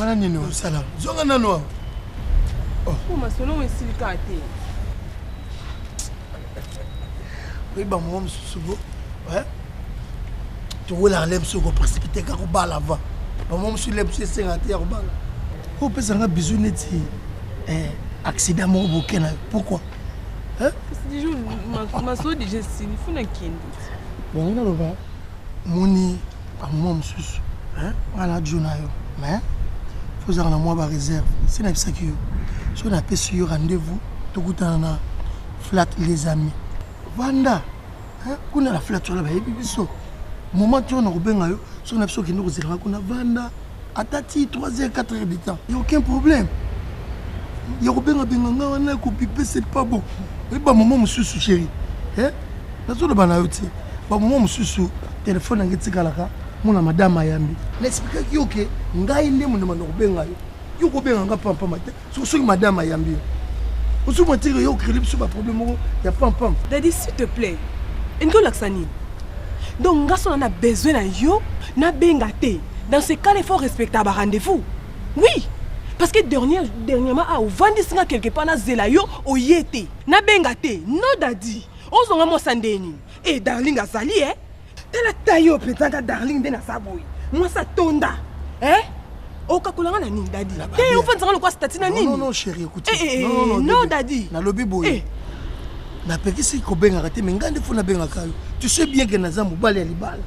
wana nini osala zonga nano awa oh. oh, masolo oyo esili kaka te oyeba moko mosusu bo towelaka le mosusu koprecipite ka kobala va bamoko mosusu le mosusu esengaka te ya kobala opesa nga bizu neti eh, accident moko boke na yo pourquoi masolo deja esili funa kende bongo naloba Omoni ba moment mosusu nga na djo na yo mais faut ozalaka na mwa ba reserve esi nayebisaki yo soki napesi yo rendez-vous tokutana na flat les amis vanda kuna na flat wana bayebi biso moment ti oyo nakobenga yo soki na biso okende kozela nga kuna vanda ata ti 3 heures 4 heures de temps ya aucun problème ya kobengabenga ngai wana ya kopipe c'est pas bon oyebi bamoma mosusu chéri eh? nazoloba na yo te bamoma mosusu telefone yango etikalaka mona madame ayambi na explikaki yo ke ngai nde mondema na kobenga yo yo kobenga ngai pampama te Soki soki madame ayambi yo. Ozo mwa tire yo créer biso ba problème moko ya pam pam. Daddy s'il te plaît. Endo laksa nini? Donc nga sona na besoin na yo na benga te. Dans ce cas, il faut respecter ba rendez-vous. Oui. Parce que dernière, dernièrement, ah, ovandisi nga quelque part na zela yo oye te. Na benga te. No daddy. Ozonga mwa sandeni. Eh darling azali eh. tala taille oyo mpenza nga darling nde naza boye mwasi atonda eh? okakola nga na nini dadi te ofandisanga lokwa stati na nini no dadi nalobi boye eh. napekisi kobengaka te me ngai nde fo nabengaka yo tu sais bien ke naza mobali ya libala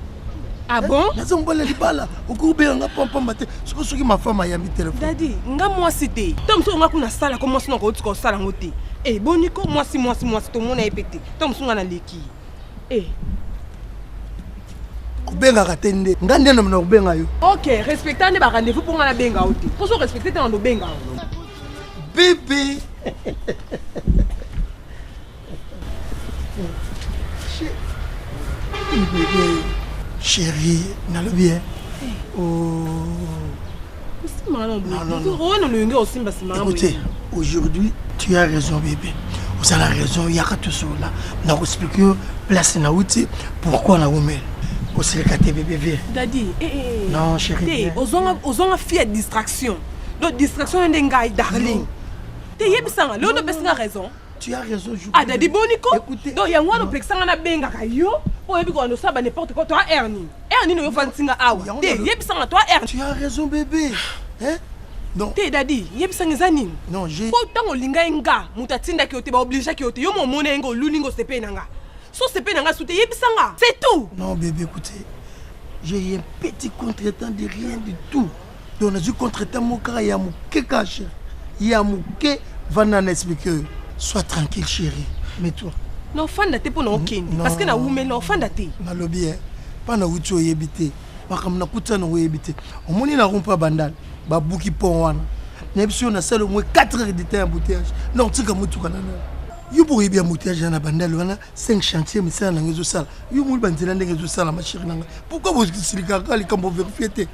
Ah eh, bon naza mobali ya libala okoki obenga nga pampamba te soki soki mafama ayambi telefone dadi nga mwasi te to mosusu nga kuna asala ko mwasi nako otika osala yango te eboniko eh, mwasi mwasi mwasi tomona ye mpe te to mosusu nga naleki Eh. obengaka te nde nga nde nomina kobenga yo ok respecta nde barendez-vous mpo nga nabenga yo te mposo respecte te na nobenga yo bibi chéri nalobi e eh. o oh. Écoutez, aujourd'hui, tu as raison, bébé. Vous avez raison, il y a tout ça là. N'a expliqué place na outi pourquoi na wumel. Osilika te bébé vie. Daddy, eh eh. Non, chérie. Te, ozonga ozonga fille à distraction. Donc distraction ndenge ngai darling. Te yebisa nga, leo ndopesi nga raison. Tu as raison, je. Ah, Daddy Boniko. Écoutez. Donc yango wana opekisa nga na benga ka yo. Oyebi ko ndo saba n'importe quoi, toi Ernie. Heure nini yo fandi singa awa? Te, yebisa nga toi heure. Tu as raison bébé. Hein? Non. Te dadi, yebisa nga eza nini? Non, je. Po tango linga nga, muta tinda ki ote ba oblige ki ote. Yo mo mona ngo luli ngo sepe na nga. So sepe na nga soute yebisa nga. C'est tout. Non bébé, écoutez. J'ai un petit contretemps de rien du tout. donc nazwi contre temps moko kaka ya moke kaka chéri ya moke vanda na explike oyo soit tranquille chéri mais toi na ofanda te mpo na okende parce que nawumeli na ofanda te nalobi e mpa na wuti oyebi te makambo nakuti yango oyebi te omoni na rompa bandal babuki pont wana nayebi soki nasala omoi 4 heures de temps ya bouteillage na kotika motuka na nao yo mpo oyebi ya bouteillage ya na bandal wana 5 chantier misala na ngai ezosala yo omoni banzela ndenge ezosala mashiri na ngai pourkui bosilikaka likambo verifie te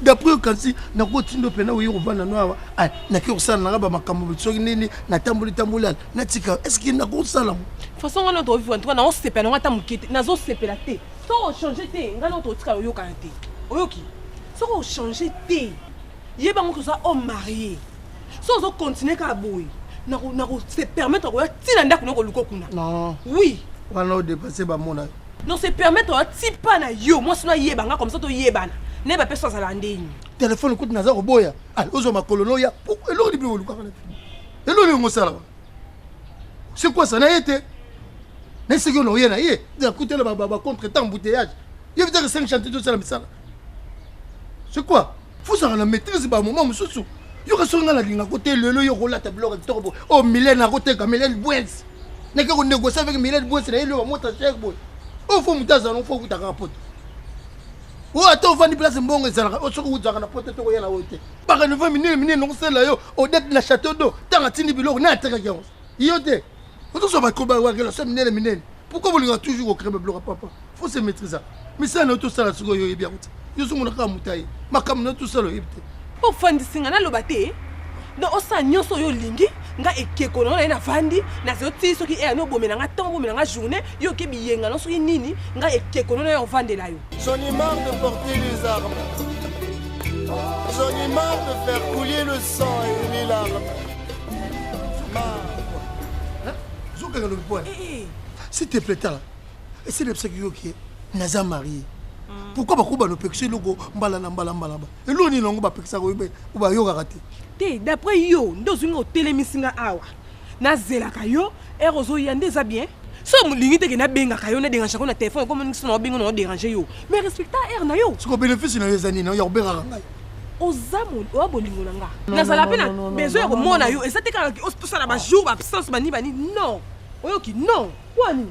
d'après okanisi nakotindo mpena oye kovanda no awa ah, nake kosala nanga bamakambo soki nini natamboli tamboli ala natika estce nakosala façon ngai noto ovivre ntuka naosepela nanga ata moke te nazosepela te soki ochange te ngai noto otikala oyokana te oyoki soki ochange te Yeba ngo toza homme marié. So ozo continuer kaka boye, na ko na ko se permettre ko ya ti na ndaku na ko luko kuna. Non. Oui. Wana o dépasser ba mona yo. Non se permettre ya ti pa na yo, moi sino yeba nga comme ça to yebana. Ne ba pesa zala ndeni. Téléphone kutu naza ko boya. Allez, ozo makolo no ya. Eloko ni bi ko luka kana. Eloko ni ngo sala. C'est quoi ça na yete? Na seki na oye na ye. Ya kutela ba ba contre temps embouteillage. Ye vitaka 5 chantiers to sala misala. c'est quoi fozala na maîtrise ba moment mosusu yoka soki ngai nalinga ko te lelo yo kolata biloko ya kitoko boye oyo oh, milene akoteka milene bwens nake konegocie avec milene bwens na ye lelo bamota cher boye oyo oh, fo moto azala fo okuta kaka poto oyo oh, ata ovandi place mbongo ezalaka oyo soki ozalaka na poto te koya na oyo te bakanova minene minene nakosala yo odete na chateau do ntango atindi biloko na atekaki yango yo te ozozwa bakoba wa relation minene minene pourquoi bolinga toujours kocree babiloko papa faut se maîtrisa misala na yo tosala sikoyo yo oyebi yango te yo ozomona kaka moto aye makambo na yo tosala oyebi te ofandisi nga naloba te don osala nyonso oyo olingi nga ekeko nango na ye navandi nazali otii soki eya no obomela nga ntango obomela nga journée yo oke biyenga no soki nini nga ekeko no na ye ovandela yo j'en ai marre de porter les armes j'en ai marre de faire couler le sang et les larmes zokanga lobi pwana s'il te plaît tala esi nayebisaki yo ke naza marie mm. pourquoi bakoba nopekisa eloko mbala na mbala mbala ba eloko nini yango bapekisaka bayokaka te te d'après yo nde ozwi nga otelemisi nga awa nazelaka yo Heure ozoya nde eza bien so olingi te ke nabengaka yo naderange yango na telefone ekomi ndingisi na obenga na oderange yo mais respecta heure na yo siko benefice na yo eza nini ya kobengaka ngai oza oya bolingo na nga nazala mpe na besoin ya komona yo eza te kaka tosala bajour baabsence bani bani non oyoki non kwani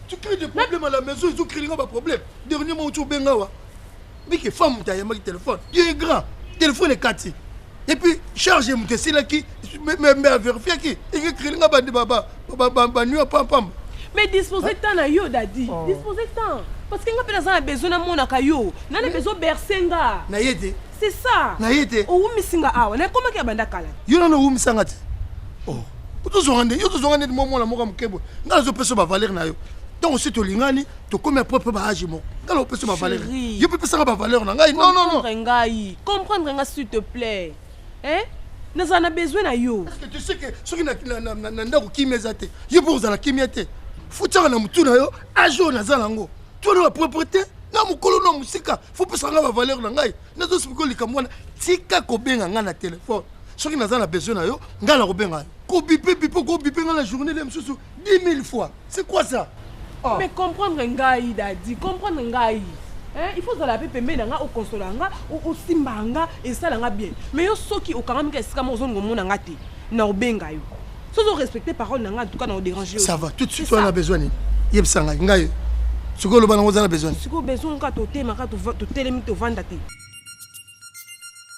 tu crée des problèmes à la maison ezo créer nga ba problème dernièrement otu obenga wa bike femme moto ayambaki telefone yo ye grand telefone ekati epuis charge ya moto esilaki mbe averifiaki ekekreli nga baniwa pampamba mais dispose temps na yo dadi oh. dispose temps parce que nga mpe naza na besoin namonaka yo na na besoin berse nga na ye te c'est ça na ye te owumisi nga awa nakomaki ya banda kala yo nano owumisa nga te oh. tozonga nde yo tozonga nde mwa mwana moko ya moke boye nga nazopesa yo bavaler na yo ntango osi tolingani tokomi apres mpe baage moko ngala opesa bavaleur yo mpe pesaka bavaleur na ngai non non non ngai comprendre nga s'il te plaît hein nazala na besoin na yo parce que tu sais que soki na ndako kimia eza te yo mpe ozala kimia te fotiaka na motu na yo age oyo naza nango twana na propreté na mokolo na mosika fo pesa ngai bavaleur na ngai nazosipiko likambo wana tika kobenga ngai na telefone soki naza na besoin na yo ngai nakobenga yo kobipe bipe okobipe ngai na journée le mosusu 10 mille fois c'est quoi ça oh. mais comprendre ngai dadi comprendre ngai Hein, il faut ozala mpe pembeni na nga okonsola nga osimba nga esala nga bien mais yo soki okangami ka esika moko ozonga omona nga te na obenga yo soki orespecte parole na nga en tout cas na odérange ça va tout de suite wana besoin nini yebisa ngai ngai sikoyo oloba nango oza na besoin sikoyo besoin kaka totema kaka totelemi tovanda te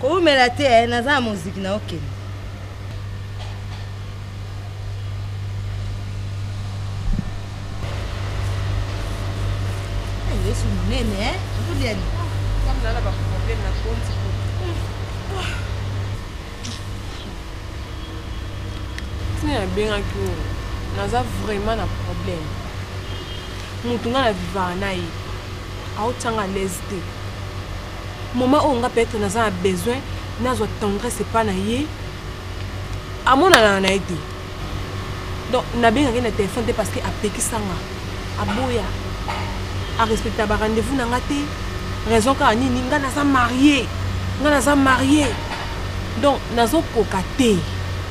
Kowumela te eh, naza na moziki na okende. Yesu munene eh, okolyani. Kama nana ba problème na konti. Tina nabengaki oyo naza vraiment na problème. Moto nga na vivaka na ye aotyanga lese te. Moment oyo nga peut etre naza na besoin nazwa tendresse epa na ye amonanaka na ye te donc nabengaka ye na telefone te parce que apekisanga aboya arespecta ba rendez-vous na nga te raison kaka nini nga naza marie nga naza marie donc nazokoka te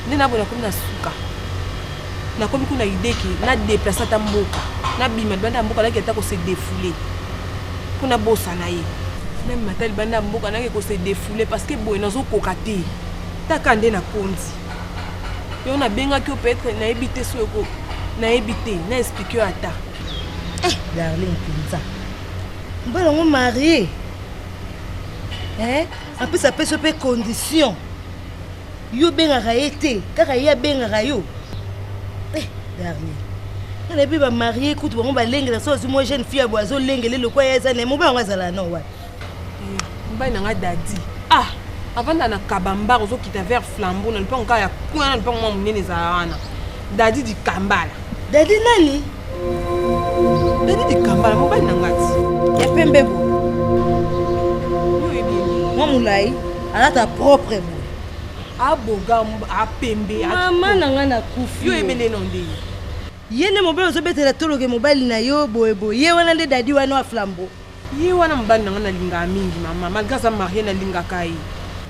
nde naboye nakomi na suka nakomi kuna ideke na deplace ata mboka nabima libanda ya mboka naki ata kose defoule mpo nabosana ye meme mata libanda ya mboka nake ko se defoule parce que boye nazokoka te taka nde na konzi yo nabengaki yo peut-être nayebi te soki eko nayebi te na explike yo ata eh, darling mpenza mbala yango marie eh? apesa peso mpe condition yo obengaka ye te kaka ye abengaka yo eh, darnie nga nayebi bamarie kutu bango balengela so azwi mwa jeune fille ya boye azolengele lokwa ya eza na ye mobali yango azala no wapi eh, mobali na nga dadi ah avanda na kabamba ozokita vers flambo na lupango kaka ya kuna na lupango mwa monene ezala wana dadi dikambala Daddy nani? Daddy Dikambala, mobali na ngati. Ya pembe bo. Mwa mulayi, alata propre bo. Aboga, apembe. Mama na nga na kufi. Yo ebele non de. Ye nde mobali ozobetela toloke mobali na yo boye boye. Ye wana nde daddy wana wa flambeau. Ye wana mobali na nga na lingaka mingi mama malgré aza marie na lingaka ye.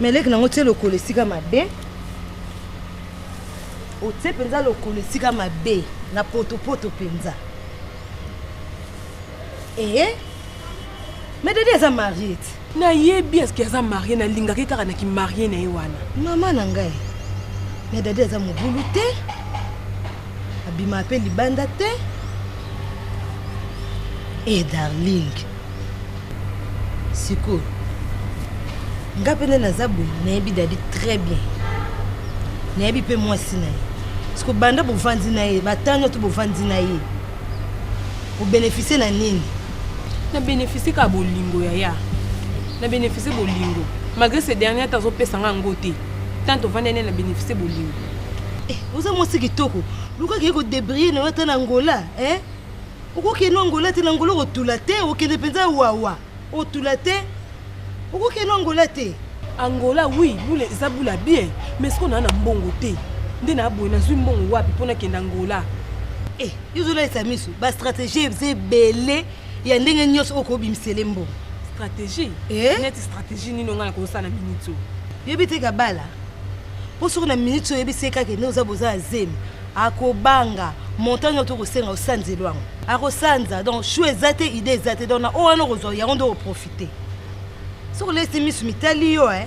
Mais leki na ngo tie lokolo esika mabe. Otie penza lokolo esika mabe na poto poto penza. Eh, eh. Mais dadi aza marie te. Na yebi est-ce qu'il aza marie na lingaka ye kaka na ki marie na ye wana. Mama na ngai. Mais dadi aza mobulu te. abima pe libanda te e darling sikoyo nga mpe nde naza boye nayebi dadi très bien nayebi mpe mwasi na ye siko banda bovandi na ye batano to bovandi na ye obenefisie na nini na benefisie kaka bolingo yaya na benefisie bolingo malgré ce dernier ata azopesa nga yango te tant tovandi ane na benefisie bolingo Eh, oza mwasi kitoko luka kei kodebrille na yo ata na ngola e eh? okokende angola te na ngola okotula te okende mpenza wawa otula te okokende angola te angola wi bule eza bula bien mais siko naa na mbongo te nde naa boye nazwi mbongo wapi mpo nakende angola e eh, yozolalisa miso bastratégie eza ebele ya ndenge nyonso okobimisele mbongo stratégie neti stratégie nini ongai nakosala miniti oyo yebi te kabala mpo soki na miniti oyebisi ye kaka ene oza boza ya zemi akobanga montant nyonso tokosenga osanzeli yango akosanza donc shu eza te ide eza te donc na oyo wana okozwa yango nde oprofite soki olesi misu mitali yo e eh.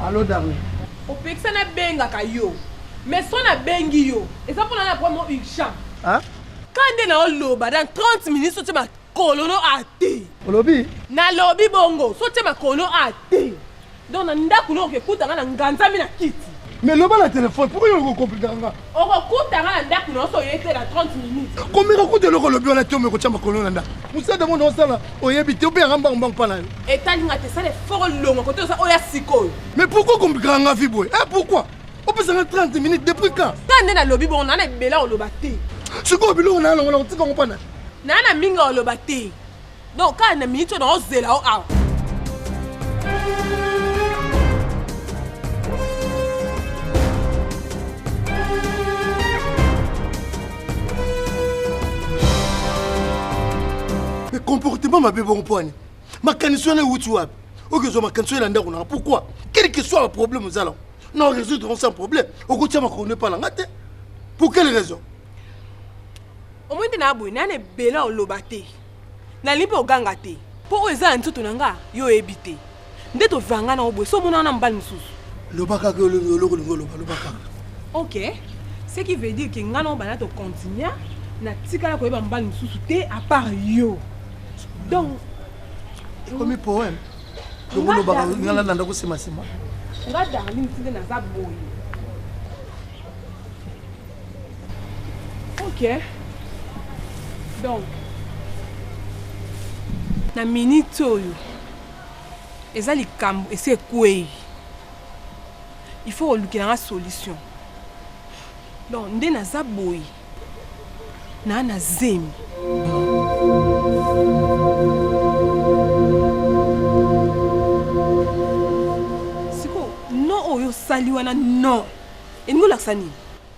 Allô Darlin. Opekisa na bengaka yo. Mais son na bengi yo. Eza pona na vraiment urgent. Hein? Kande na oloba dans 30 minutes sotie makolo no ate. Olobi? Na lobi bongo sotie makolo ate. Donc na ndaku no okekuta nga na nganzami na kiti. Mais loba na telephone, pourquoi yo ko compliquer nga? Okokuta nga na ndaku na oso oyete na 30 minutes. Komeka kuta eloko olobi wana te omeko tia makolo na ndaku. Musada mona osala oyebi te obe yanga mbangu mbangu pa na yo. Etali nga te sala effort olonga kote oza oya sikoyo. Mais pourquoi compliquer nga vie boye? Eh pourquoi? Opesa nga 30 minutes depuis quand? Ka nde na lobi bongo na na ebela oloba te. Sikoyo biloko na yango na kotika ngo pa na. Na na mingi oloba te. donc kaka na minute oyo naozela yo awa comportement mabe bongo mpo ani makanisi wana ewuti wapi oke ozwa makanisi oyo na ndako nanga pourquoi quel que soit problème ozala na résoudre on sans problème okotia makono epa na nga te pour quelle raison omoni nde na boye nayana ebele oloba te Nalingi mpe oganga te. Mpo oyo eza na nzoto na nga, yo oyebi te. Nde tovanga na oboye, so omona wana mobali mosusu. Loba kaka olingi oloko olingi oloba, loba kaka. Ok, ce qui veut dire que nga na yo banda to continua, natikala koyeba mobali mosusu te à part yo. Donc ekomi poème lokolobaka nga nalanda kosemasema nga darling tinde naza boye Ok. Donc, na minute oyo eza likambo esi ekwei il faut kolukela nga solution donc nde naza boye naa na zemi sikoyo no oyo osali wana non elingi olakisa nini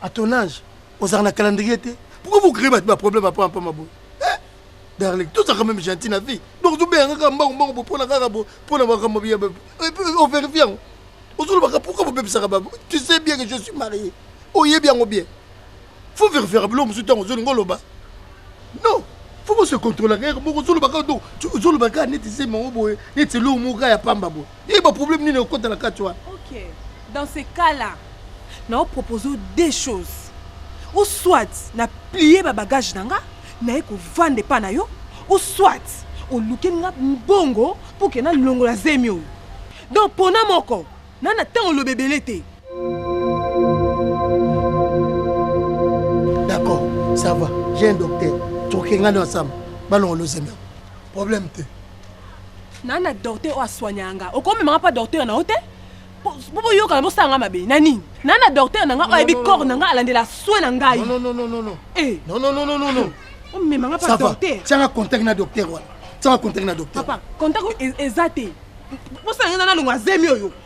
à ton âge ozalaka na calendrier te pourquoi vous créez bato ba problème apama mpama boye eh, darling tozalaka même gentil na vie donc tobeyanga kaka mbangu mbangu bo mpona kaka bo mpona makambo ya overifie yango ozolobaka pourquoi bobebisaka babo tu sais bien que je suis marié oyebi yango bien faut verifiaka biloko mosusu ntango ozolinga oloba non faut bose contrôlaka yaka moko ozolobaka do ozolobaka neti se mango boye neti eloko moko ya pamba boye ye ba problème nini okota na kati wana ok dans ce cas là na opropose deux choses ou soit na plie ba bagage na nga naye kovanda epa na yo ou soit olukeli nga mbongo mpo ke nalongola zemi oyo donc pona moko na na ntango oloba ebele te d'accord ça va j'ai un docteur tokenga nde ensemble balongolo zemi problème te na na docteur oyo aswanya nga okomema nga mpa docteur na yo te mpo boyokana bosala nga mabe na nini na na docteur na nga oyo ayebi corps na nga alandela soin na ngai omema nga mpa docteur tianga contact na docteur wana tianga contact na docteur papa contact eza te bosala nga na nalongo azemi oyo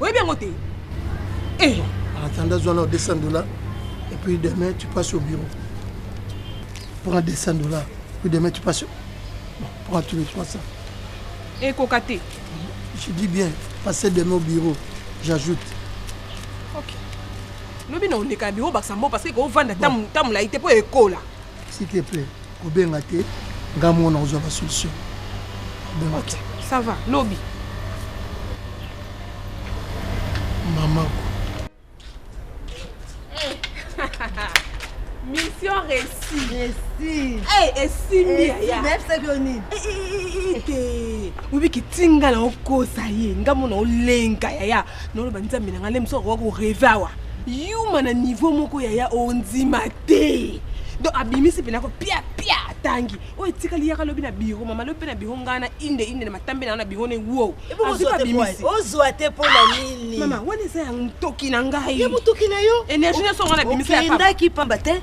oyebi yango te eh. atanda zwa nao 200 dollars et puis demain tu passes au bureau prends 200 dollars puis demain tu passes bon, prends tous les 300 ekoka te je dis bien passer demain au bureau j'ajoute ok lobi na oleka biro bakisa mbo parce que ekovanda ntango molai te mpo ekola S'il te plaît, kobenga te, nga mona ozwa ba solution. Kobenga te. Ça va, lobi. Maman. Mission réussie. Réussie. Eh, esimbi ya. Même ça que nini? Eh, eh, eh, eh. Obi kitinga na okosa ye, nga mona olenga yaya. Nolo banza mina ngale mso ko reva wa. Yuma na niveau moko yaya ondima te donc abimisi mpena ko pia pia atangi oyo etikali yaka lobi na biro mama lobi mpe na biro ngai na inde inde na matambe na yo na biro ne wo ozwa te mpo na nini mama wana eza ya motoki na ngai energie nyonso ngai nabimisa yakendaki pamba te